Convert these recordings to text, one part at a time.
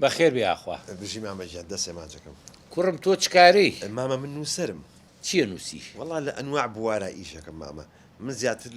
بەخێر بێ یاخوا. بژی مامە گیان دەست ئێمانجەکەم. کوڕم تۆ چ کارەی؟ مامە من نوسەرم. چیە نوسی؟ وەڵا لە ئەنواع بوارا ئیش ئەکەم مامە من زیاتر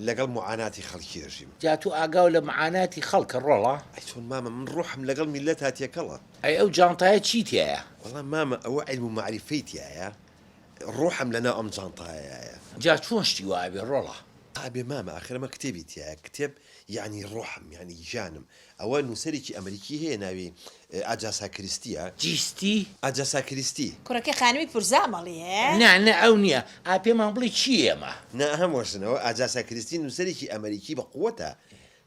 لەگەڵ موعاناتی خەڵکی ئەژیم. جا تۆ ئاگاو لە معاناتی خەڵکە ڕۆڵە؟ ئەی چۆن مامە من ڕوحم لەگەڵ میللەتا تێکەڵە. ئەی ئەو جانتایە چی تیایە؟ وەڵا مامە ئەوە عیلم و مەعریفەی تیایە ڕوحم لەناو ئەم جانتایەیایە. جا چۆن شتی وا ئەبێ ڕۆڵە؟ ئابێ مامە ئاخر ئەمە کتێبی تیایە کتێب یانی ڕوحم یانی گیانم ئەوە نووسەرێکی ئەمریکی هەیە ناوی، ئاجاسا کریستی، ە. جیستی؟ ئاجاسا کریستی. کوڕەکەی خانمی پورزامەڵی هەیە؟ نا نا ئەو نیە ئا پێمان بڵی چی ئێمە. نا ئەهەم وەرسن ئەوە ئاجاسا کریستی نووسەرێکی ئەمریکی بە قوەتە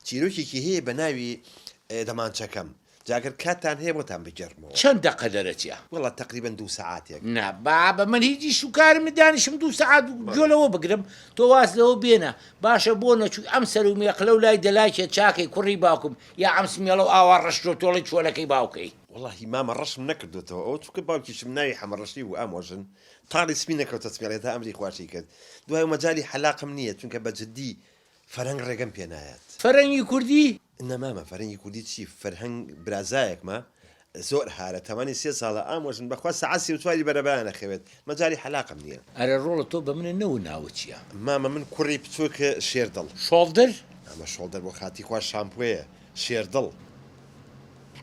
چیرۆکێکی هەیە بە ناوی، دەمانچەکەم، جا گەر کاتتان هەیە بۆتان بگێڕمەوە. چەند دەقە دەرەچیە؟ وەڵا تەقریبەن دوو سەعاتێک. نا بابە من هیچ ئیش و کارم نیە دانیشم دوو سەعات گوێ لەوە بگرم تۆ واز لەوە بێنە باشە بۆ نەچووی ئەم سەرو مێقلە و لای دەلاکێ چاکەی کوڕی باوکم یا ئەم سمێڵە و ئاوا ڕەش تۆ تۆڵەی چۆلەکەی باوکەی. وەڵاهی مامە ڕەشم نەکردۆتەوە ئەوە چونکە باوکیشم ناوی حەمە ڕەشی بوو ئامۆ ژن تاڵی سپی نەکەوتە سمێڵێ تا ئەمری خواشی کرد دوای و مەجالی حەلاقم نیە چونکە بە جدی فەرەنگ ڕێگەم پێ نایات. فەرەنگی کوردی نا مامە فەرهەنگی کوردی چی فەرهەنگ برازایەکمە زۆر هارە تەمەنی سێ ساڵە ئامۆ ژن بەخوا سەعات سی و چواری بەرەبەیان ئەخەوێت مەجالی حەلاقم نیە. ئەرێ ڕۆڵە تۆ بە منە نەوو ناوت چیە. مامە من کوڕی بچوک شێردڵ. شۆڵدر؟ مامە شۆڵدەر بۆ خاتی خوا شامپۆیە شێردڵ.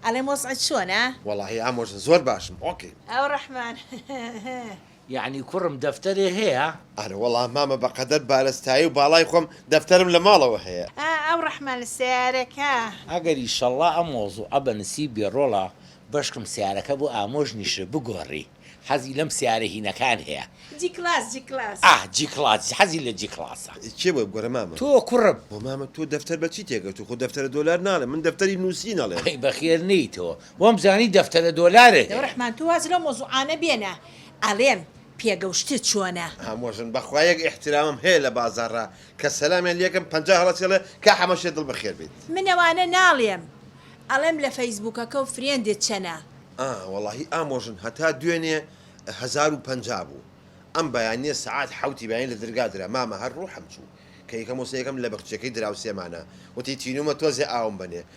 ئەڵێم وەزعت چۆنە؟ وەڵاهی ئامۆژن زۆر باشم ئۆکەیم. ئەو ڕەحمان هه هه. یەعنی کوڕم دەفتەرێ هەیە؟ ئارەوەڵا مامە بەقەدەر بارستایی و باڵای خۆم دەفتەرم لە ماڵەوە هەیە. ئا ئەو ڕەحمە لە سەیارەکە. ئەگەر ئیشەڵا ئەم مەوزوعە بە نسیب بێ ڕۆڵە بەشکم سەیارەکە بۆ ئامۆژ نیشر بگۆڕی حەزی لەم سەیارە هینەکان هەیە. جی کڵاس جی کڵاس. ئاه جی کڵاس حەزی لە جی کڵاسە. کێ بۆی بگۆرێ مامە. تۆ کوڕم. هۆ مامە تۆ دەفتەر بە چی تێگەشتوو خۆ دەفتەرە دۆلار ناڵێ من دەفتەری نووسین ئەڵێم. ئەی بەخێر نێیتەوە وام زانی دەفتەرە دۆلارێ هەیە. دەوڕەحمان تۆ واز لەو مەوزوعانە بێنە ئەڵێم پێگەوشتت چۆنە. هەموەژن بەخوا یەک ئیحترامم هەیە لە بازاڕا کە سەلامیان لێکەم پەنجا هەڵەچی ئەڵێ کا حەمەشێ دڵ بە خێر بیت. من ئەوانە ناڵێم ئەڵێم لە فەیسبوکەکەو فرێندت چەنە. ئا وەڵاهی ئامۆژن هەتا دوێنێ هەزار و پەنجا بوو ئەم بەیانیە سەعات حەوتی بەیانی لە دەرگا درا مامە هەر ڕوحم چوو کە یەکەم وسە یەکەم لە بەخچیەکەی دراوسێمانە وتی تینومە تۆزێ ئاوم بەنێ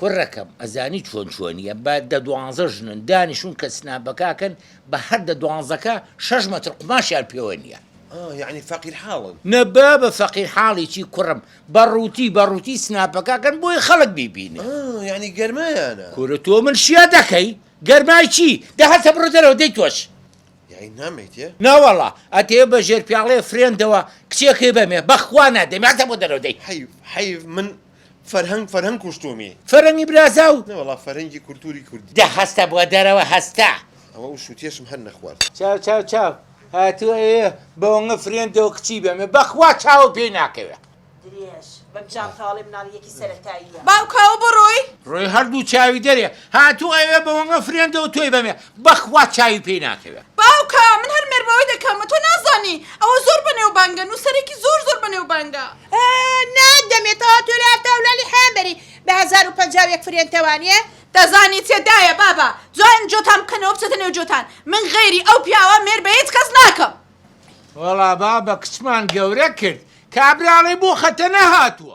کوڕەکەم ئەزانی چۆن چۆنیە بە دە دوانزە ژنن دانیشون کە سناپەکاکەن بە هەر دە دوانزەکە شەش مەتر قوماشیان پێوە نیە. ئا یەعنی فەقیر حاڵن. نە بابە فەقیر حاڵی چی کوڕم بە ڕوتی بە ڕوتی سناپەکاکەن بۆی خەڵک بیبینێ. ئا یەعنی گەرمایانە. کورە تۆ من شیا دەکەی گەرمای چی دە هەسە بڕۆ دەرەوە دەی تۆش. یەعنی نامێیتێ؟ ناوەڵا ئەتەوێ بە ژێر پیاڵەیە فرێندەوە کچێکەی بەمێ بەخوا نادەمێ هەسە بۆ دەرەوە دەی. حەیف حەیف من فەرهەنگ فەرهەنگ کوشتومی. فەرەنگی برازا و. نەوەڵا فەرهەنگی کولتوری کوردی. دە هەستە بوە دەرەوە هەستە. ئەوە ئەو شوتیەشم هەر نەخوارد. چاو چاو چاو هاتوە ئێ بەوەنگە فرێن دەو کچی بەمێ بەخوا چاوم پێی ناکەوێ. درێژ بم جانتاڵێ مناڵی یەکی سەرەتاییە. باوکاو بڕۆی. ڕۆی هەردوو چاوی دەرێ هاتوو ئەوێ بەوەنگە فرێن دەو تۆی بەمێ بەخوا چاوی پێی ناکەوێ. باوکە من هەر مێربەوەی دەکەم تۆ نازانی ئەوە زۆر بەنێوبانگە نوسەرێکی زۆر زۆر بەنێوبانگە. نا دەمێ تەوا تۆ لە هەتا ولالی حەیان بەری بە هەزار و پەنجا و یەک فرێن تەوانیە. دەزانی چێ دایە بابە جوان جۆتان بکەنەوە بچێتە نێو جۆتان من غەیری ئەو پیاوە مێر بە هیچ کەس ناکەم. وەڵا بابە کچمان گەورە کرد کابراڵێ بۆ خەتەنە هاتوە.